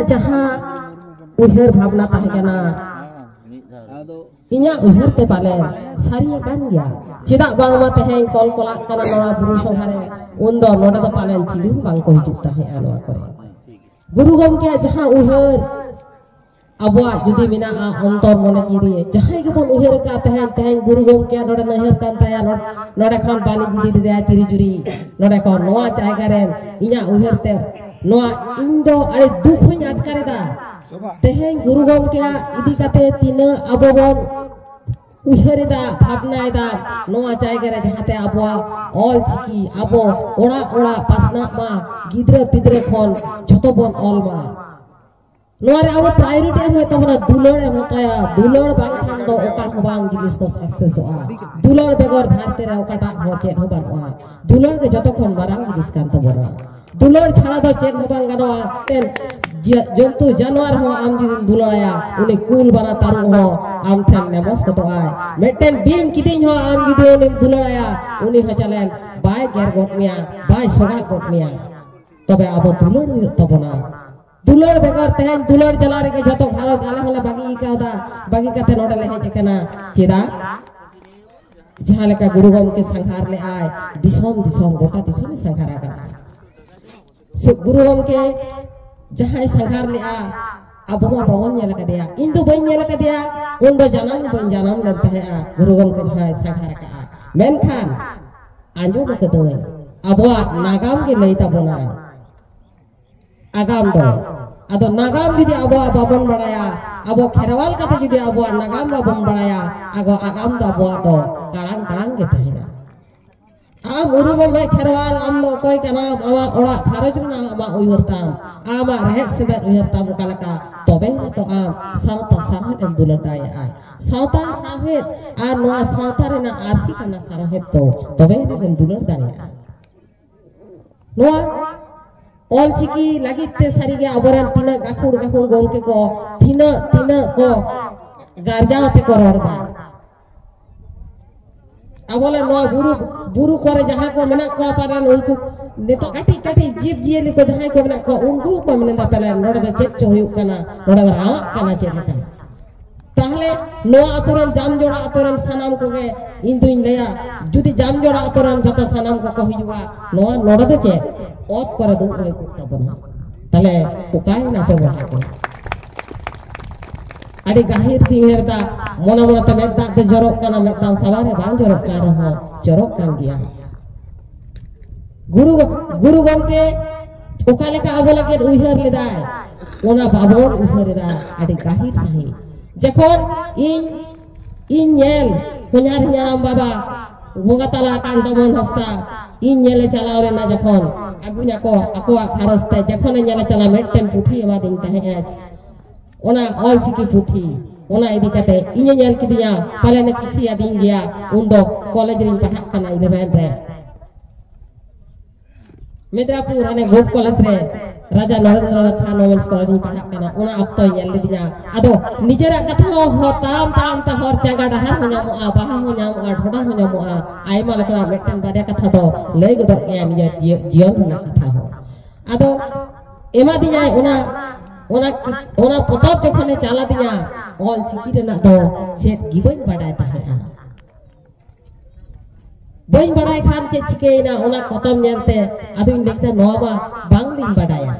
ᱡᱟᱦᱟᱸ ᱩᱭᱦᱟᱹᱨ ᱵᱷᱟᱵᱽᱱᱟ ᱛᱟᱦᱮᱸ ᱠᱟᱱᱟ ᱤᱧᱟᱹᱜ ᱩᱭᱦᱟᱹᱨ ᱛᱮ ᱯᱟᱞᱮ ᱥᱟᱹᱨᱤ ᱟᱠᱟᱱ ᱜᱮᱭᱟ ᱪᱮᱫᱟᱜ ᱵᱟᱝᱢᱟ ᱛᱮᱦᱮᱧ ᱠᱚᱞ ᱠᱚᱞᱟᱜ ᱠᱟᱱᱟ ᱱᱚᱣᱟ ᱵᱩᱨᱩ ᱥᱚᱵᱷᱟ ᱨᱮ ᱩᱱ ᱫᱚ ᱱᱚᱰᱮ ᱫᱚ ᱯᱟᱞᱮᱱ ᱪᱤᱞᱤ ᱦᱚᱸ ᱵᱟᱝᱠᱚ ᱦᱤᱡᱩᱜ ᱛᱟᱦᱮᱸᱜᱼᱟ ᱱᱚᱣᱟ ᱠᱚᱨᱮ ᱜᱩᱨᱩ ᱜᱚᱢᱠᱮᱭᱟᱜ ᱡᱟᱦᱟᱸ ᱩᱭᱦᱟᱹᱨ ᱟᱵᱚᱣᱟᱜ ᱡᱩᱫᱤ ᱢᱮᱱᱟᱜᱼᱟ ᱚᱱᱛᱚᱨ ᱢᱚᱱᱮ ᱡᱤᱣᱤ ᱨᱮ ᱡᱟᱦᱟᱸᱭ ᱜᱮᱵᱚᱱ ᱩᱭᱦᱟᱹᱨ ᱟᱠᱟᱫ ᱛᱟᱦᱮᱸᱫ ᱛᱮᱦᱮᱧ ᱜᱩᱨᱩ ᱜᱚᱢᱠᱮ ᱱᱚᱰᱮ ᱱᱟᱹᱦᱟᱹᱨ ᱠᱟᱱ ᱛᱟᱭᱟ ᱱᱚᱰᱮ ᱠᱷᱚᱱ ᱵᱟᱹᱞᱤ ᱤᱫᱤ ᱞᱮᱫᱟᱭ ᱛᱤᱨᱤ ᱡᱩᱨᱤ ᱱᱚᱰᱮ ᱠᱷᱚᱱ ᱱᱚᱣᱟ ᱡᱟᱭᱜᱟ ᱨᱮ ᱤᱧᱟᱹᱜ ᱩᱭᱦᱟᱹᱨ ᱛᱮ ᱱᱚᱣᱟ ᱤᱧ ᱫᱚ ᱟᱹᱰᱤ ᱫᱩᱠ ᱦᱚᱧ ᱟᱴᱠᱟᱨᱮᱫᱟ ᱛᱮᱦᱮᱧ ᱜᱩᱨᱩ ᱜᱚᱢᱠᱮᱭᱟᱜ ᱤᱫᱤ ᱠᱟᱛᱮ ᱛᱤᱱᱟᱹᱜ ᱟᱵᱚ ᱵᱚᱱ ᱩᱭᱦᱟᱹᱨᱮᱫᱟ ᱵᱷᱟᱵᱽᱱᱟᱭᱮᱫᱟ ᱱᱚᱣᱟ ᱡᱟᱭᱜᱟ ᱨᱮ ᱡᱟᱦᱟᱸᱛᱮ ᱟᱵᱚᱣᱟᱜ ᱚᱞ ᱪᱤᱠᱤ ᱟᱵᱚ ᱚᱲᱟᱜ ᱚᱲᱟᱜ ᱯᱟᱥᱱᱟᱜ ᱢᱟ ᱜᱤᱫᱽᱨᱟᱹ ᱯᱤᱫᱽᱨᱟᱹ ᱠᱷᱚᱱ ᱡᱷᱚᱛᱚ ᱵᱚᱱ ᱚᱞ ᱢᱟ ᱱᱚᱣᱟ ᱨᱮ ᱟᱵᱚ ᱯᱨᱟᱭᱳᱨᱤᱴᱤ ᱮᱢ ᱦᱩᱭᱩᱜ ᱛᱟᱵᱚᱱᱟ ᱫᱩᱞᱟᱹᱲ ᱮᱢ ᱦᱟᱛᱟᱭᱟ ᱫᱩᱞᱟᱹᱲ ᱵᱟᱝᱠᱷᱟᱱ ᱫᱚ ᱚᱠᱟ ᱦᱚᱸ ᱵᱟᱝ ᱡᱤᱱᱤᱥ ᱫᱚ ᱥᱟᱠᱥᱮᱥᱚᱜᱼᱟ ᱫᱩᱞᱟᱹᱲ ᱵᱮᱜᱚᱨ ᱫᱷᱟᱹᱨᱛᱤ ᱨᱮ ᱚᱠᱟᱴᱟᱜ ᱦᱚᱸ ᱪᱮᱫ ᱦᱚᱸ ᱵᱟᱹᱱᱩᱜᱼᱟ ᱫᱩᱞᱟᱹᱲ ᱜᱮ ᱡᱚᱛᱚ ᱠᱷᱚᱱ ᱢᱟᱨᱟᱝ ᱡᱤᱱᱤᱥ ᱠᱟᱱ ᱛᱟᱵᱚᱱᱟ ᱫᱩᱞᱟᱹᱲ ᱪᱷᱟᱲᱟ ᱫᱚ ᱪᱮᱫ ᱦᱚᱸ ᱵᱟᱝ ᱜᱟᱱᱚᱜᱼᱟ ᱛᱮᱱ ᱡᱚᱱᱛᱩ ᱡᱟᱱᱣᱟᱨ ᱦᱚᱸ ᱟᱢ ᱡᱩᱫᱤᱢ ᱫᱩᱞᱟᱹᱲᱟᱭᱟ ᱩᱱᱤ ᱠᱩᱞ ᱵᱟᱱᱟ ᱛᱟᱹᱨᱩᱵ ᱦᱚᱸ ᱟᱢ ᱴᱷᱮᱱ ᱢᱮᱢᱚᱥ ᱜᱚᱫᱚᱜᱼᱟᱭ ᱢᱤᱫᱴᱮᱱ ᱵᱤᱧ ᱠᱤᱫᱤᱧ ᱦᱚᱸ ᱟᱢ ᱡᱩᱫᱤ ᱩᱱᱤᱢ ᱫᱩᱞᱟᱹᱲᱟᱭᱟ ᱩᱱᱤ ᱦᱚᱸ ᱪᱟᱞᱮᱱ ᱵᱟᱭ ᱜᱮᱨ ᱜᱚᱫ ᱢᱮᱭᱟ ᱵᱟᱭ ᱥᱚᱜᱟ ᱜᱚᱫ ᱢᱮᱭᱟ ᱛᱚᱵᱮ ᱟᱵᱚ ᱫᱩᱞᱟᱹᱲ ᱦᱩᱭᱩᱜ ᱛᱟᱵᱚᱱᱟ ᱫᱩᱞᱟᱹᱲ ᱵᱮᱜᱚᱨ ᱛᱮᱦᱮᱧ ᱫᱩᱞᱟᱹᱲ ᱡᱟᱞᱟ ᱨᱮᱜᱮ ᱡᱚᱛᱚ ᱜᱷᱟᱨᱚᱸᱡᱽ ᱟᱞᱮ ᱦᱚᱸᱞᱮ ᱵᱟᱹᱜᱤ ᱟᱠᱟᱣᱫᱟ ᱵᱟᱹᱜᱤ ᱠᱟᱛᱮ ᱱᱚᱰᱮ ᱞᱮ ᱦᱮᱡ ᱟᱠᱟᱱᱟ ᱪᱮᱫᱟᱜ ᱡᱟᱦᱟᱸ ᱞᱮᱠᱟ ᱜᱩᱨᱩ ᱜᱚᱢᱠᱮ ᱥᱟᱸᱜᱷᱟᱨ ᱞᱮᱜᱼᱟᱭ ᱫᱤᱥᱚᱢ ᱫᱤᱥᱚᱢ ᱜᱚᱴᱟ ᱫᱤᱥᱚᱢᱮ ᱥᱟᱸᱜᱷᱟᱨ ᱟᱠᱟᱱᱟ ᱜᱩᱨᱩ ᱜᱚᱢᱠᱮ ᱡᱟᱦᱟᱸᱭ ᱥᱟᱸᱜᱷᱟᱨ ᱞᱮᱜᱼᱟ ᱟᱵᱚ ᱢᱟ ᱵᱟᱵᱚᱱ ᱧᱮᱞ ᱟᱠᱟᱫᱮᱭᱟ ᱤᱧ ᱫᱚ ᱵᱟᱹᱧ ᱧᱮᱞ ᱟᱠᱟᱫᱮᱭᱟ ᱩᱱ ᱫᱚ ᱡᱟᱱᱟᱢ ᱵᱟᱹᱧ ᱡᱟᱱᱟᱢ ᱞᱮᱱ ᱛᱟᱦᱮᱸᱜᱼᱟ ᱜᱩᱨᱩ ᱜᱚᱢᱠᱮ ᱡᱟᱦᱟᱸᱭ ᱥᱟᱸᱜᱷᱟᱨ ᱟᱠᱟᱜᱼᱟ ᱢᱮᱱᱠᱷᱟᱱ ᱟᱸᱡᱚᱢ ᱟᱠᱟᱫᱟᱹᱧ ᱟᱵᱚᱣᱟᱜ ᱱᱟᱜᱟᱢ ᱜᱮ ᱞᱟᱹᱭ ᱛᱟᱵᱚᱱᱟ ᱟᱜᱟᱢ ᱫᱚ ᱟᱫᱚ ᱱᱟᱜᱟᱢ ᱡᱩᱫᱤ ᱟᱵᱚᱣᱟᱜ ᱵᱟᱵᱚᱱ ᱵᱟᱲᱟᱭᱟ ᱟᱵᱚ ᱠᱷᱮᱨᱣᱟᱞ ᱠᱟᱛᱮ ᱡᱩᱫᱤ ᱟᱵᱚᱣᱟᱜ ᱱᱟᱜᱟᱢ ᱵᱟᱵᱚᱱ ᱵᱟᱲᱟᱭᱟ ᱟᱵᱚ ᱟᱜᱟᱢ ᱫᱚ ᱟᱵᱚᱣᱟᱜ ᱫᱚ ᱠᱟᱲᱟᱝ ᱠᱟᱲᱟᱝ ᱜᱮ ᱛᱟᱦᱮᱱᱟ ᱟᱢ ᱩᱨᱩᱢᱚᱜ ᱢᱮ ᱠᱷᱮᱨᱣᱟᱞ ᱟᱢ ᱫᱚ ᱚᱠᱚᱭ ᱠᱟᱱᱟᱢ ᱟᱢᱟᱜ ᱚᱲᱟᱜ ᱜᱷᱟᱨᱚᱸᱡᱽ ᱨᱮᱱᱟᱜ ᱟᱢᱟᱜ ᱩᱭᱦᱟᱹᱨ ᱛᱟᱢ ᱟᱢᱟᱜ ᱨᱮᱦᱮᱫ ᱥᱮᱸᱫᱮᱫ ᱩᱭᱦᱟᱹᱨ ᱛᱟᱢ ᱚᱠᱟ ᱞᱮᱠᱟ ᱛᱚᱵᱮ ᱱᱤᱛᱚᱜ ᱟᱢ ᱥᱟᱶᱛᱟ ᱥᱟᱶᱦᱮᱫ ᱮᱢ ᱫᱩᱞᱟᱹᱲ ᱫᱟᱲᱮᱭᱟᱜᱼᱟ ᱥᱟᱶᱛᱟ ᱥᱟᱶᱦᱮᱫ ᱟᱨ ᱱᱚᱣᱟ ᱥᱟᱶᱛᱟ ᱨᱮᱱᱟᱜ ᱟᱹᱨᱥᱤ ᱠᱟᱱᱟ ᱥᱟᱶᱦᱮᱫ ᱫᱚ ᱛᱚᱵᱮ ᱱᱤᱛᱚᱜ ᱮᱢ ᱫᱩᱞᱟᱹᱲ ᱫᱟᱲᱮᱭᱟᱜᱼᱟ ᱱᱚᱣᱟ ᱚᱞᱪᱤᱠᱤ ᱞᱟᱹᱜᱤᱫ ᱛᱮ ᱥᱟᱹᱨᱤᱜᱮ ᱟᱵᱚᱨᱮᱱ ᱛᱤᱱᱟᱹᱜ ᱜᱟᱹᱠᱷᱩᱲ ᱜᱟᱹᱠᱷᱩᱲ ᱜᱚᱢᱠᱮ ᱠᱚ ᱛᱤᱱᱟᱹᱜ ᱛᱤᱱᱟᱹᱜ ᱠᱚ ᱜᱟᱨᱡᱟᱣ ᱛᱮᱠᱚ ᱨᱚᱲᱫᱟ ᱟᱵᱚᱞᱮ ᱱᱚᱣᱟ ᱵᱩᱨᱩ ᱵᱩᱨᱩ ᱠᱚᱨᱮ ᱡᱟᱦᱟᱸ ᱠᱚ ᱢᱮᱱᱟᱜ ᱠᱚᱣᱟ ᱯᱟᱞᱮᱱ ᱩᱱᱠᱩ ᱱᱤᱛᱚᱜ ᱠᱟᱹᱴᱤᱡ ᱠᱟᱹᱴᱤᱡ ᱡᱤᱵᱽ ᱡᱤᱭᱟᱹᱞᱤ ᱠᱚ ᱡᱟᱦᱟᱸᱭ ᱠᱚ ᱢᱮᱱᱟᱜ ᱠᱚᱣᱟ ᱩᱱᱠᱩ ᱠᱚ ᱢᱮᱱᱫᱟ ᱯᱟᱞᱮᱱ ᱱᱚᱰᱮ ᱫᱚ ᱪᱮᱫ ᱪᱚ ᱦᱩᱭᱩᱜ ᱠᱟᱱᱟ ᱱᱚᱰᱮ ᱫᱚ ᱨᱟᱣᱟᱜ ᱠᱟᱱᱟ ᱪᱮᱫ ᱞᱮᱠᱟ ᱛᱟᱦᱚᱞᱮ ᱱᱚᱣᱟ ᱟᱛᱳ ᱨᱮᱱ ᱡᱟᱢᱡᱚᱲᱟ ᱟᱛᱳ ᱨᱮᱱ ᱥᱟᱱᱟᱢ ᱠᱚᱜᱮ ᱤᱧ ᱫᱩᱧ ᱞᱟᱹᱭᱟ ᱡᱩᱫᱤ ᱡᱟᱢᱡᱚᱲᱟ ᱟᱛᱳ ᱨᱮᱱ ᱡᱚᱛᱚ ᱥᱟᱱᱟᱢ ᱠᱚᱠᱚ ᱦᱤᱡᱩᱜᱼᱟ ᱱᱚᱣᱟ ᱱᱚᱰᱮ ᱫᱚ ᱪᱮᱫ ᱚᱛ ᱠᱚᱨᱮ ᱫᱩᱲᱩᱵ ᱦᱩᱭ ᱠᱚᱜ ᱛᱟᱵᱚᱱᱟ ᱛᱟᱦᱚᱞᱮ ᱚᱠᱟᱭᱮᱱᱟ ᱯᱮ ᱵᱚᱭᱦᱟ ᱠᱚ ᱟᱹᱰᱤ ᱜᱟᱹᱦᱤᱨ ᱛᱤᱧ ᱩᱭᱦᱟᱹᱨ ᱮᱫᱟ ᱢᱚᱱᱮ ᱢᱚᱱᱮᱛᱮ ᱢᱮᱫ ᱫᱟᱜ ᱫᱚ ᱡᱚᱨᱚᱜ ᱠᱟᱱᱟ ᱢᱮᱫ ᱫᱟᱜ ᱥᱟᱵᱟᱨᱮ ᱵᱟᱝ ᱡᱚᱨᱚᱜ ᱠᱟᱱ ᱨᱮᱦᱚᱸ ᱡᱚᱨᱚᱜ ᱠᱟᱱ ᱜᱮᱭᱟ ᱜᱩᱨᱩ ᱜᱩᱨᱩ ᱜᱚᱢᱠᱮ ᱚᱠᱟ ᱞᱮᱠᱟ ᱟᱵᱚ ᱞᱟᱹᱜᱤᱫ ᱩᱭᱦᱟᱹᱨ ᱞᱮᱫᱟᱭ ᱚᱱᱟ ᱵᱟᱵᱚᱱ ᱩᱭᱦᱟᱹᱨ ᱮᱫᱟ ᱟᱹᱰᱤ ᱜᱟᱹᱦᱤᱨ ᱥᱟᱺᱦᱤᱡ ᱡᱚᱠᱷᱚᱱ ᱤᱧ ᱤᱧ ᱧᱮᱞ ᱦᱚᱧᱟᱨ ᱦᱟᱲᱟᱢ ᱵᱟᱵᱟ ᱵᱚᱸᱜᱟ ᱛᱟᱞᱟ ᱟᱠᱟᱱ ᱫᱚᱢᱚᱱ ᱦᱟᱸᱥᱫᱟ ᱤᱧ ᱧᱮᱞᱮ ᱪᱟᱞᱟᱣ ᱞᱮᱱᱟ ᱡᱚᱠᱷᱚᱱ ᱟᱹᱜᱩᱧᱟᱠᱚ ᱟᱠᱚᱣᱟᱜ ᱜᱷᱟᱨᱚᱸᱡᱽ ᱛᱮ ᱡᱚᱠᱷᱚᱱᱮ ᱧᱮᱞᱮ ᱪᱟᱞᱟᱣ ᱢᱤᱫᱴᱮᱱ ᱯᱩᱛᱷᱤ ᱮᱢᱟᱫᱤᱧ ᱛᱟᱦᱮᱸᱫ ᱚᱱᱟ ᱚᱞ ᱪᱤᱠᱤ ᱯᱩᱛᱷᱤ ᱚᱱᱟ ᱤᱫᱤ ᱠᱟᱛᱮ ᱤᱧᱮ ᱧᱮᱞ ᱠᱤᱫᱤᱧᱟ ᱯᱟᱞᱮ ᱱᱮ ᱠᱩᱥᱤᱭᱟᱫᱤᱧ ᱜᱮᱭᱟ ᱩᱱ ᱫᱚ ᱠᱚᱞᱮᱡᱽ ᱨᱤᱧ ᱯᱟᱲᱦᱟᱜ ᱠᱟᱱᱟ ᱤᱞᱮᱵᱷᱮᱱ ᱨᱮ ᱢᱮᱫᱽᱨᱟᱯᱩᱨ ᱦᱟᱱᱮ ᱜᱳᱯ ᱠᱚᱞᱮᱡᱽ ᱨᱮ ᱨᱟᱡᱟ ᱱᱚᱨᱮᱱᱫᱨᱚ ᱠᱷᱟᱱ ᱣᱚᱢᱮᱱᱥ ᱠᱚᱞᱮᱡᱽ ᱨᱤᱧ ᱯᱟᱲᱦᱟᱜ ᱠᱟᱱᱟ ᱚᱱᱟ ᱚᱠᱛᱚᱭ ᱧᱮᱞ ᱞᱤᱫᱤᱧᱟ ᱟᱫᱚ ᱱᱤᱡᱮᱨᱟᱜ ᱠᱟᱛᱷᱟ ᱦᱚᱸ ᱦᱚᱨ ᱛᱟᱲᱟᱢ ᱛᱟᱲᱟᱢ ᱛᱮ ᱦᱚᱨ ᱪᱟᱸᱜᱟ ᱰᱟᱦᱟᱨ ᱦᱚᱸ ᱧᱟᱢᱚᱜᱼᱟ ᱵᱟᱦᱟ ᱦᱚᱸ ᱧᱟᱢᱚᱜᱼᱟ ᱰᱷᱚᱰᱟ ᱦᱚᱸ ᱧᱟᱢᱚᱜᱼᱟ ᱟᱭᱢᱟ ᱞᱮᱠᱟᱱᱟᱜ ᱢᱤᱫᱴᱮᱱ ᱵᱟᱨᱭᱟ ᱠᱟᱛᱷᱟ ᱫᱚ ᱞᱟᱹᱭ ᱜᱚᱫᱚᱜ ᱜᱮᱭᱟ ᱱᱤᱡᱮᱨ ᱡᱤᱭᱚᱱ ᱨᱮᱱᱟᱜ ᱠᱟᱛᱷᱟ ᱦᱚᱸ ᱟᱫᱚ ᱮᱢᱟ ᱫᱤᱧᱟᱭ ᱚᱱᱟ ᱚᱱᱟ ᱚᱱᱟ ᱯᱚᱛᱚᱵ ᱡᱚᱠᱷᱚᱱᱮ ᱪᱟᱞᱟ ᱫᱤᱧᱟ ᱚᱞ ᱪᱤᱠᱤ ᱨᱮᱱᱟᱜ ᱫᱚ ᱪᱮᱫ ᱜᱮ ᱵᱟᱹᱧ ᱵᱟᱰᱟᱭ ᱛᱟᱦᱮᱸᱜᱼᱟ ᱵᱟᱹᱧ ᱵᱟᱰᱟᱭ ᱠᱷᱟᱱ ᱪᱮᱫ ᱪᱤᱠᱟᱹᱭᱮᱱᱟ ᱚᱱᱟ ᱯᱚᱛᱚᱵ ᱧᱮᱞᱛᱮ ᱟᱫᱚᱧ ᱞᱟᱹᱭ ᱠᱮᱫᱟ ᱱᱚᱣᱟ ᱢᱟ ᱵᱟᱝᱞᱤᱧ ᱵᱟᱰᱟᱭᱟ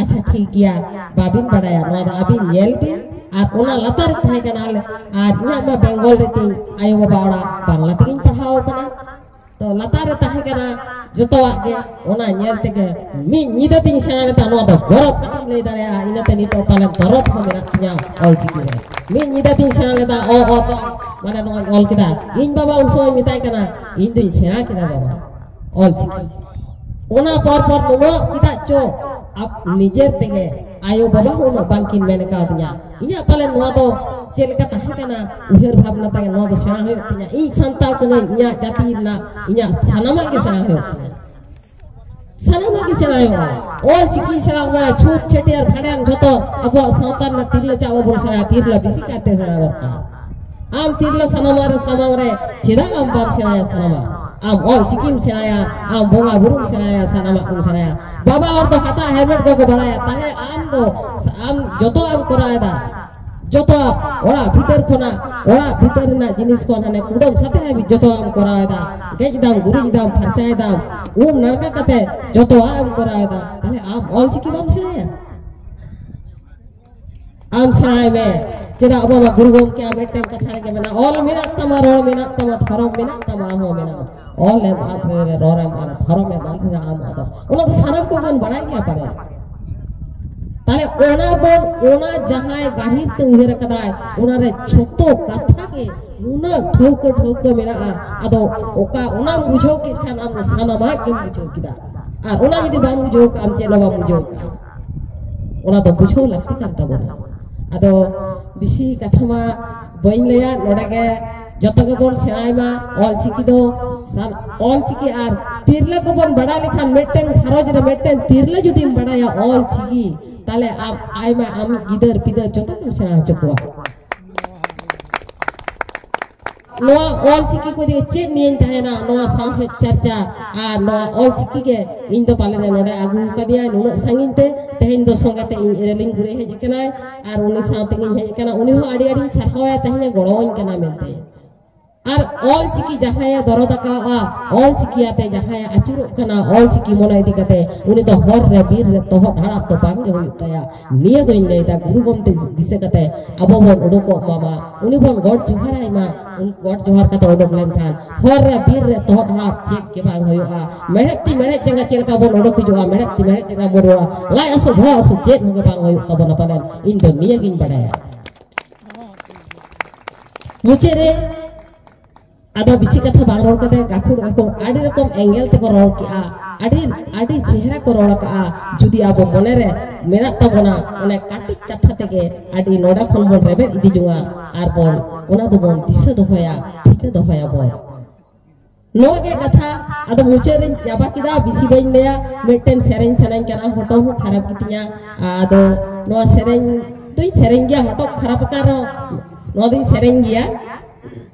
ᱟᱪᱪᱷᱟ ᱴᱷᱤᱠ ᱜᱮᱭᱟ ᱵᱟᱵᱤᱱ ᱵᱟᱰᱟᱭᱟ ᱱᱚᱣᱟ ᱫᱚ ᱟᱹᱵᱤᱱ ᱧᱮᱞ ᱵᱤᱱ ᱟᱨ ᱚᱱᱟ ᱞᱟᱛᱟᱨ ᱨᱮ ᱛᱟᱦᱮᱸ ᱠᱟᱱᱟ ᱟᱨ ᱤᱧᱟᱹᱜ ᱢᱟ ᱵᱮᱝᱜᱚᱞ ᱨᱮ ᱛᱤᱧ ᱟᱭᱳ ᱵᱟᱵᱟ ᱚᱲᱟᱜ ᱵᱟᱝᱞᱟ ᱛᱮᱜᱤᱧ ᱯᱟᱲᱦᱟᱣ ᱠᱟᱱᱟ ᱛᱚ ᱞᱟᱛᱟᱨ ᱨᱮ ᱛᱟᱦᱮᱸ ᱠᱟᱱᱟ ᱡᱚᱛᱚᱣᱟᱜ ᱜᱮ ᱚᱱᱟ ᱧᱮᱞ ᱛᱮᱜᱮ ᱢᱤᱫ ᱧᱤᱫᱟᱹ ᱛᱤᱧ ᱥᱮᱬᱟ ᱞᱮᱫᱟ ᱱᱚᱣᱟ ᱫᱚ ᱜᱚᱨᱚᱵ ᱠᱟᱛᱮᱢ ᱞᱟᱹᱭ ᱫᱟᱲᱮᱭᱟᱜᱼᱟ ᱤᱱᱟᱹᱛᱮ ᱱᱤᱛᱚᱜ ᱯᱟᱞᱮᱱ ᱫᱚᱨᱚᱫ ᱦᱚᱸ ᱢᱮᱱᱟᱜ ᱛᱤᱧᱟ ᱚᱞᱪᱤᱠᱤ ᱨᱮ ᱢᱤᱫ ᱧᱤᱫᱟᱹ ᱛᱤᱧ ᱥᱮᱬᱟ ᱞᱮᱫᱟ ᱚ ᱚ ᱫᱚ ᱢᱟᱱᱮ ᱱᱚᱣᱟᱧ ᱚᱞ ᱠᱮᱫᱟ ᱤᱧ ᱵᱟᱵᱟ ᱩᱱ ᱥᱚᱢᱚᱭ ᱢᱮᱛᱟᱭ ᱠᱟᱱᱟ ᱤᱧ ᱫᱩᱧ ᱥᱮᱬᱟ ᱠᱮᱫᱟ ᱵᱟᱵᱟ ᱚᱞᱪᱤᱠᱤ ᱚᱱᱟ ᱯᱚᱨ ᱯᱚᱨ ᱱᱩᱱᱟᱹᱜ ᱪᱮᱫᱟᱜ ᱪᱚ ᱟᱯ ᱱᱤᱡᱮᱨ ᱛᱮᱜᱮ ᱟᱭᱳ ᱵᱟᱵᱟ ᱦᱚᱸ ᱩᱱᱟᱹᱜ ᱵᱟᱝᱠᱤᱱ ᱢᱮᱱ ᱠᱟᱣᱫᱤᱧᱟ ᱤᱧᱟᱹᱜ ᱯᱟᱞᱮ ᱱᱚᱣᱟ ᱫᱚ ᱪᱮᱫ ᱞᱮᱠᱟ ᱛᱟᱦᱮᱸ ᱠᱟᱱᱟ ᱩᱭᱦᱟᱹᱨ ᱵᱷᱟᱵᱽᱱᱟ ᱛᱟᱭ ᱱᱚᱣᱟ ᱫᱚ ᱥᱮᱬᱟ ᱦᱩᱭᱩᱜ ᱛᱤᱧᱟ ᱤᱧ ᱥᱟᱱᱛᱟᱲ ᱠᱟᱹᱱᱟᱹᱧ ᱤᱧᱟᱹᱜ ᱡᱟᱹᱛᱤ ᱨᱮᱱᱟᱜ ᱤᱧᱟᱹᱜ ᱥᱟᱱᱟᱢᱟᱜ ᱜᱮ ᱥᱮᱬᱟ ᱦᱩᱭᱩᱜ ᱛᱤᱧᱟ ᱥᱟᱱᱟᱢᱟᱜ ᱜᱮ ᱥᱮᱬᱟ ᱦᱩᱭᱩᱜᱼᱟ ᱚᱞ ᱪᱤᱠᱤ ᱥᱮᱬᱟ ᱦᱩᱭᱩᱜᱼᱟ ᱪᱷᱩᱛ ᱪᱷᱟᱹᱴᱭᱟᱹᱨ ᱵᱷᱟᱸᱰᱟᱱ ᱡᱷᱚᱛᱚ ᱟᱵᱚᱣᱟᱜ ᱥᱟᱶᱛᱟ ᱨᱮᱱᱟᱜ ᱛᱤᱨᱞᱟᱹ ᱪᱟᱜ ᱵᱟᱵᱚᱱ ᱥᱮᱬᱟᱭᱟ ᱛᱤᱨᱞᱟᱹ ᱵᱮᱥᱤ ᱠᱟᱭᱛᱮ ᱥᱮᱬᱟ ᱫᱚᱨᱠᱟᱨ ᱟᱢ ᱛᱤᱨᱞᱟᱹ ᱥᱟᱱᱟᱢᱟ ᱨᱮ ᱥᱟᱢᱟᱝ ᱨᱮ ᱪᱮᱫᱟᱜ ᱟᱢ ᱵᱟᱢ ᱥᱮᱬᱟᱭᱟ ᱥᱟᱱᱟᱢᱟ ᱟᱢ ᱚᱞ ᱪᱤᱠᱤᱢ ᱥᱮᱬᱟᱭᱟ ᱟᱢ ᱵᱚᱸᱜᱟ ᱵᱩᱨᱩᱢ ᱥᱮᱬᱟᱭᱟ ᱥᱟᱱᱟᱢᱟᱜ ᱠᱚᱢ ᱥᱮᱬᱟᱭᱟ ᱵᱟᱵᱟ ᱦᱚᱲ ᱫᱚ ᱦᱟᱴᱟᱜ ᱦᱮᱞᱢᱮᱴ ᱠᱚᱠᱚ ᱵᱟᱲᱟᱭᱟ ᱛᱟᱦᱞᱮ ᱟᱢ ᱫᱚ ᱟᱢ ᱡᱚᱛᱚ ᱟᱢ ᱠᱚᱨᱟᱣᱮᱫᱟ ᱡᱚᱛᱚ ᱚᱲᱟᱜ ᱵᱷᱤᱛᱟᱹᱨ ᱠᱷᱚᱱᱟᱜ ᱚᱲᱟᱜ ᱵᱷᱤᱛᱟᱹᱨ ᱨᱮᱱᱟᱜ ᱡᱤᱱᱤᱥ ᱠᱚ ᱦᱟᱱᱮ ᱠᱩᱰᱟᱹᱢ ᱥᱟᱛᱮ ᱦᱟᱹᱵᱤᱡ ᱡᱚᱛᱚ ᱟᱢ ᱠᱚᱨᱟᱣᱮᱫᱟ ᱜᱮᱡ ᱫᱟᱢ ᱜᱩᱨᱤᱡ ᱫᱟᱢ ᱯᱷᱟᱨᱪᱟᱭ ᱫᱟᱢ ᱩᱢ ᱱᱟᱲᱠᱟ ᱠᱟᱛᱮ ᱡᱚᱛᱚᱣᱟᱜ ᱮᱢ ᱠᱚᱨᱟᱣᱮᱫᱟ ᱛᱟᱦᱞᱮ ᱟᱢ ᱚᱞ ᱪᱤᱠᱤ ᱵᱟᱢ ᱥᱮᱬᱟᱭᱟ ᱟᱢ ᱥᱮᱬᱟᱭ ᱢᱮ ᱪᱮᱫᱟᱜ ᱵᱟᱵᱟ ᱜᱩᱨᱩ ᱜᱚᱢᱠᱮᱭᱟᱜ ᱢᱤᱫᱴᱮᱱ ᱠᱟᱛᱷᱟ ᱨᱮᱜᱮ ᱢᱮᱱᱟᱜᱼᱟ ᱚᱞ ᱢᱮᱱᱟᱜ ᱛᱟᱢᱟ ᱨᱚᱲ ᱢᱮᱱᱟᱜ ᱛᱟᱢᱟ ᱫᱷᱚᱨᱚᱢ ᱢᱮᱱᱟᱜ ᱛᱟᱢᱟ ᱟᱢ ᱦᱚᱸ ᱢᱮᱱᱟᱜᱼᱟ ᱚᱞ ᱮᱢ ᱟᱫ ᱨᱮ ᱨᱚᱲ ᱮᱢ ᱟᱫ ᱫᱷᱚᱨᱚᱢ ᱮᱢ ᱟᱫ ᱨᱮ ᱟᱢ ᱟᱫ ᱚᱱᱟ ᱫᱚ ᱥᱟᱱᱟᱢ ᱠᱚᱵᱚᱱ ᱵᱟᱲᱟᱭ ᱜᱮᱭᱟ ᱯᱟᱞᱮ ᱛᱟᱦᱞᱮ ᱚᱱᱟ ᱵᱚᱱ ᱚᱱᱟ ᱡᱟᱦᱟᱸᱭ ᱜᱟᱹᱦᱤᱨ ᱛᱮ ᱩᱭᱦᱟᱹᱨ ᱟᱠᱟᱫᱟᱭ ᱚᱱᱟ ᱨᱮ ᱡᱷᱚᱛᱚ ᱠᱟᱛᱷᱟ ᱜᱮ ᱱᱩᱱᱟᱹᱜ ᱴᱷᱟᱹᱣᱠᱟᱹ ᱴᱷᱟᱹᱣᱠᱟᱹ ᱢᱮᱱᱟᱜᱼᱟ ᱟᱫᱚ ᱚᱠᱟ ᱚᱱᱟᱢ ᱵᱩᱡᱷᱟᱹᱣ ᱠᱮᱫ ᱠᱷᱟᱱ ᱟᱢ ᱥᱟᱱᱟᱢᱟᱜ ᱜᱮᱢ ᱵᱩᱡᱷᱟᱹᱣ ᱠᱮᱫᱟ ᱟᱨ ᱚᱱᱟ ᱡᱩᱫᱤ ᱵᱟᱢ ᱵᱩᱡᱷᱟᱹᱣ ᱠᱟᱜᱼᱟ ᱟᱢ ᱪᱮᱫ ᱦᱚᱸ ᱵᱟᱢ ᱵᱩᱡᱷᱟᱹᱣ ᱠᱟᱜᱼᱟ ᱚᱱᱟ ᱫᱚ ᱵᱩᱡᱷᱟᱹᱣ ᱞᱟᱹᱠᱛᱤ ᱠᱟᱱ ᱛᱟᱵᱚᱱᱟ ᱟᱫᱚ ᱵᱮᱥᱤ ᱠᱟᱛᱷᱟ ᱢᱟ ᱵᱟᱹᱧ ᱞᱟᱹᱭᱟ ᱱᱚᱰᱮ ᱜᱮ ᱡᱚᱛᱚ ᱜᱮᱵᱚᱱ ᱥᱮᱬᱟᱭ ᱢᱟ ᱚᱞ ᱪᱤᱠᱤ ᱫᱚ ᱚᱞ ᱪᱤᱠᱤ ᱟᱨ ᱛᱤᱨᱞᱟᱹ ᱠᱚᱵᱚᱱ ᱵᱟᱲᱟᱭ ᱞᱮᱠᱷᱟᱱ ᱢᱤᱫᱴᱮᱱ ᱜᱷᱟᱨᱚᱸᱡᱽ ᱨᱮ ᱢᱤᱫᱴᱮᱱ ᱛᱤᱨᱞᱟᱹ ᱡᱩᱫᱤᱢ ᱵᱟᱲᱟᱭᱟ ᱚᱞ ᱪᱤᱠᱤ ᱛᱟᱦᱞᱮ ᱟᱢ ᱟᱭᱢᱟ ᱟᱢ ᱜᱤᱫᱟᱹᱨ ᱯᱤᱫᱟᱹᱨ ᱡᱚᱛᱚ ᱜᱮᱢ ᱥᱮᱬᱟ ᱦᱚᱪᱚ ᱠᱚᱣᱟ ᱱᱚᱣᱟ ᱚᱞᱪᱤᱠᱤ ᱠᱚ ᱤᱫᱤ ᱪᱮᱫ ᱱᱤᱭᱟᱹᱧ ᱛᱟᱦᱮᱱᱟ ᱱᱚᱣᱟ ᱥᱟᱶᱦᱮᱫ ᱪᱟᱨᱪᱟ ᱟᱨ ᱱᱚᱣᱟ ᱚᱞᱪᱤᱠᱤ ᱜᱮ ᱤᱧ ᱫᱚ ᱯᱟᱞᱮᱱ ᱱᱚᱰᱮ ᱟᱹᱜᱩ ᱠᱟᱫᱤᱧᱟ ᱱᱩᱱᱟᱹᱜ ᱥᱟᱺᱜᱤᱧ ᱛᱮ ᱛᱮᱦᱮᱧ ᱫᱚ ᱥᱚᱸᱜᱮ ᱛᱮ ᱤᱧ ᱨᱮᱞᱤᱝ ᱜᱩᱲᱮ ᱦᱮᱡ ᱟᱠᱟᱱᱟᱭ ᱟᱨ ᱩᱱᱤ ᱥᱟᱶ ᱛᱮᱜᱤᱧ ᱦᱮᱡ ᱟᱠᱟᱱᱟ ᱩᱱᱤ ᱦᱚᱸ ᱟᱹᱰᱤ ᱟᱹᱰᱤᱧ ᱥᱟᱨᱦᱟᱣᱟᱭᱟ ᱛᱮᱦᱮᱧ ᱜᱚᱲᱚᱣᱟᱹᱧ ᱠᱟᱱᱟ ᱢᱮᱱᱛᱮ ᱟᱨ ᱚᱞᱪᱤᱠᱤ ᱡᱟᱦᱟᱸᱭᱮ ᱫᱚᱨᱚᱫ ᱟᱠᱟᱫᱼᱟ ᱚᱞᱪᱤᱠᱤ ᱟᱛᱮ ᱡᱟᱦᱟᱸᱭᱮ ᱟᱹᱪᱩᱨᱚᱜ ᱠᱟᱱᱟ ᱚᱞᱪᱤᱠᱤ ᱢᱚᱱᱮ ᱤᱫᱤ ᱠᱟᱛᱮ ᱩᱱᱤ ᱫᱚ ᱦᱚᱨ ᱨᱮ ᱵᱤᱨ ᱨᱮ ᱛᱚᱦᱚᱫ ᱦᱟᱲᱟᱫ ᱫᱚ ᱵᱟᱝᱜᱮ ᱦᱩᱭᱩᱜ ᱛᱟᱭᱟ ᱱᱤᱭᱟᱹ ᱫᱚᱧ ᱞᱟᱹᱭᱫᱟ ᱜᱩᱨᱩ ᱜᱚᱢᱛᱮ ᱫᱤᱥᱟᱹ ᱠᱟᱛᱮ ᱟᱵᱚ ᱵᱚᱱ ᱩᱰᱩᱠᱚᱜ ᱢᱟ ᱢᱟ ᱩᱱᱤ ᱵᱚᱱ ᱜᱚᱰ ᱡᱚᱦᱟᱨ ᱟᱭ ᱢᱟ ᱜᱚᱰ ᱡᱚᱦᱟᱨ ᱠᱟᱛᱮ ᱩᱰᱩᱠ ᱞᱮᱱᱠᱷᱟᱱ ᱦᱚᱨ ᱨᱮ ᱵᱤᱨ ᱨᱮ ᱛᱚᱦᱚᱫ ᱦᱟᱲᱟᱫ ᱪᱮᱫ ᱜᱮ ᱵᱟᱝ ᱦᱩᱭᱩᱜᱼᱟ ᱢᱮᱬᱦᱮᱫ ᱛᱤ ᱢᱮᱬᱦᱮᱫ ᱡᱟᱸᱜᱟ ᱪᱮᱫ ᱞᱮᱠᱟ ᱵᱚᱱ ᱩᱰᱩᱠ ᱦᱤᱡᱩᱜᱼᱟ ᱢᱮᱬᱦᱮᱫ ᱛᱤ ᱢᱮᱬᱦᱮᱫ ᱡᱟᱸᱜᱟ ᱵᱚᱱ ᱨᱩᱣᱟᱹᱲᱟ ᱞᱟᱡ ᱦᱟᱹᱥᱩ ᱵᱚᱦᱚᱜ ᱦᱟᱹᱥᱩ ᱪᱮᱫ ᱦᱚᱸ ᱜᱮ ᱵᱟᱝ ᱦᱩᱭᱩᱜ ᱛᱟᱵᱚᱱᱟ ᱯᱟᱞᱮᱱ ᱤᱧ ᱫᱚ ᱱᱤᱭᱟᱹᱜᱤᱧ ᱵᱟᱰᱟᱭᱟ ᱢᱩᱪᱟᱹᱫ ᱨᱮ ᱟᱫᱚ ᱵᱤᱥᱤ ᱠᱟᱛᱷᱟ ᱵᱟᱝ ᱨᱚᱲ ᱠᱟᱛᱮ ᱜᱟᱹᱠᱷᱩᱲ ᱜᱟᱹᱠᱷᱩᱲ ᱟᱹᱰᱤ ᱨᱚᱠᱚᱢ ᱮᱸᱜᱮᱞ ᱛᱮᱠᱚ ᱨᱚᱲ ᱠᱮᱜᱼᱟ ᱟᱹᱰᱤ ᱟᱹᱰᱤ ᱪᱮᱦᱨᱟ ᱠᱚ ᱨᱚᱲ ᱠᱟᱜᱼᱟ ᱡᱩᱫᱤ ᱟᱵᱚ ᱢᱚᱱᱮ ᱨᱮ ᱢᱮᱱᱟᱜ ᱛᱟᱵᱚᱱᱟ ᱚᱱᱮ ᱠᱟᱹᱴᱤᱡ ᱠᱟᱛᱷᱟ ᱛᱮᱜᱮ ᱟᱹᱰᱤ ᱱᱚᱰᱮ ᱠᱷᱚᱱ ᱵᱚᱱ ᱨᱮᱵᱮᱫ ᱤᱫᱤ ᱡᱚᱝᱟ ᱟᱨ ᱵᱚᱱ ᱚᱱᱟ ᱫᱚᱵᱚᱱ ᱫᱤᱥᱟᱹ ᱫᱚᱦᱚᱭᱟ ᱴᱷᱤᱠᱟᱹ ᱫᱚᱦᱚᱭᱟᱵᱚᱱ ᱱᱚᱣᱟ ᱜᱮ ᱠᱟᱛᱷᱟ ᱟᱫᱚ ᱢᱩᱪᱟᱹᱫ ᱨᱮᱧ ᱪᱟᱵᱟ ᱠᱮᱫᱟ ᱵᱤᱥᱤ ᱵᱟᱹᱧ ᱞᱟᱹᱭᱟ ᱢᱤᱫᱴᱮᱱ ᱥᱮᱨᱮᱧ ᱥᱟᱱᱟᱧ ᱠᱟᱱᱟ ᱦᱚᱴᱚᱜ ᱦᱚᱸ ᱠᱷᱟᱨᱟᱯ ᱜᱮᱛᱤᱧᱟ ᱟᱫᱚ ᱱᱚᱣᱟ ᱥᱮᱨᱮᱧ ᱫᱩᱧ ᱥᱮᱨᱮᱧ ᱜᱮᱭᱟ ᱦᱚᱴᱚᱜ ᱠᱷᱟᱨᱟᱯ ᱟᱠᱟᱱ ᱨᱮᱦᱚᱸ ᱱᱚᱣᱟ ᱫᱩᱧ ᱥᱮᱨᱮᱧ ᱜᱮᱭᱟ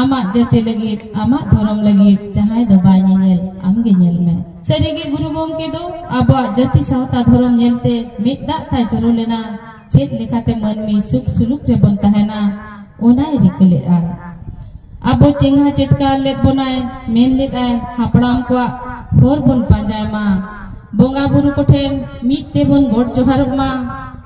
ᱟᱢᱟᱜ ᱡᱟᱹᱛᱤ ᱞᱟᱹᱜᱤᱫ ᱟᱢᱟᱜ ᱫᱷᱚᱨᱚᱢ ᱞᱟᱹᱜᱤᱫ ᱡᱟᱦᱟᱸᱭ ᱫᱚ ᱵᱟᱭ ᱧᱮᱧᱮᱞ ᱟᱢ ᱜᱮ ᱧᱮᱞ ᱢᱮ ᱥᱟᱹᱨᱤ ᱜᱮ ᱜᱩᱨᱩ ᱜᱚᱢᱠᱮ ᱫᱚ ᱟᱵᱚᱣᱟᱜ ᱡᱟᱹᱛᱤ ᱥᱟᱶᱛᱟ ᱫᱷᱚᱨᱚᱢ ᱧᱮᱞᱛᱮ ᱢᱤᱫ ᱫᱟᱜ ᱛᱟᱭ ᱡᱚᱨᱚ ᱞᱮᱱᱟ ᱪᱮᱫ ᱞᱮᱠᱟᱛᱮ ᱢᱟᱹᱱᱢᱤ ᱥᱩᱠ ᱥᱩᱞᱩᱠ ᱨᱮᱵᱚᱱ ᱛᱟᱦᱮᱱᱟ ᱚᱱᱟᱭ ᱨᱤᱠᱟᱹ ᱞᱮᱫᱼᱟ ᱟᱵᱚ ᱪᱮᱸᱜᱷᱟ ᱪᱮᱴᱠᱟ ᱞᱮᱫ ᱵᱚᱱᱟᱭ ᱢᱮᱱ ᱞᱮᱫᱟᱭ ᱦᱟᱯᱲᱟᱢ ᱠᱚᱣᱟᱜ ᱦᱚᱨ ᱵᱚᱱ ᱯᱟᱸᱡᱟᱭ ᱢᱟ ᱵᱚᱸᱜᱟ ᱵᱩᱨᱩ ᱠᱚᱴᱷᱮᱱ ᱢᱤᱫ ᱛᱮᱵᱚᱱ ᱜᱚᱰ ᱡᱚᱦᱟᱨᱚᱜ ᱢᱟ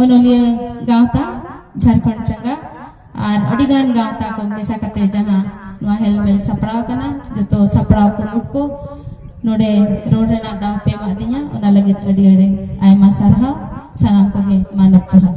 ᱚᱱᱚᱞᱤᱭᱟᱹ ᱜᱟᱶᱛᱟ ᱡᱷᱟᱨᱠᱷᱚᱸᱰ ᱪᱟᱸᱜᱟ ᱟᱨ ᱟᱹᱰᱤ ᱜᱟᱱ ᱜᱟᱶᱛᱟ ᱠᱚ ᱢᱮᱥᱟ ᱠᱟᱛᱮ ᱡᱟᱦᱟᱸ ᱱᱚᱣᱟ ᱦᱮᱞᱢᱮᱞ ᱥᱟᱯᱲᱟᱣ ᱠᱟᱱᱟ ᱡᱚᱛᱚ ᱥᱟᱯᱲᱟᱣ ᱠᱩᱢᱩᱴ ᱠᱚ ᱱᱚᱰᱮ ᱨᱚᱲ ᱨᱮᱱᱟᱜ ᱫᱟᱣ ᱯᱮ ᱮᱢᱟᱜ ᱫᱤᱧᱟ ᱚᱱᱟ ᱞᱟᱹᱜᱤᱫ ᱟᱹᱰᱤ ᱟᱹᱰᱤ ᱟᱭᱢᱟ ᱥᱟᱨᱦᱟᱣ ᱥᱟᱱᱟᱢ ᱠᱚᱜᱮ ᱢᱟᱱᱚᱛ ᱡᱚᱦᱟᱨ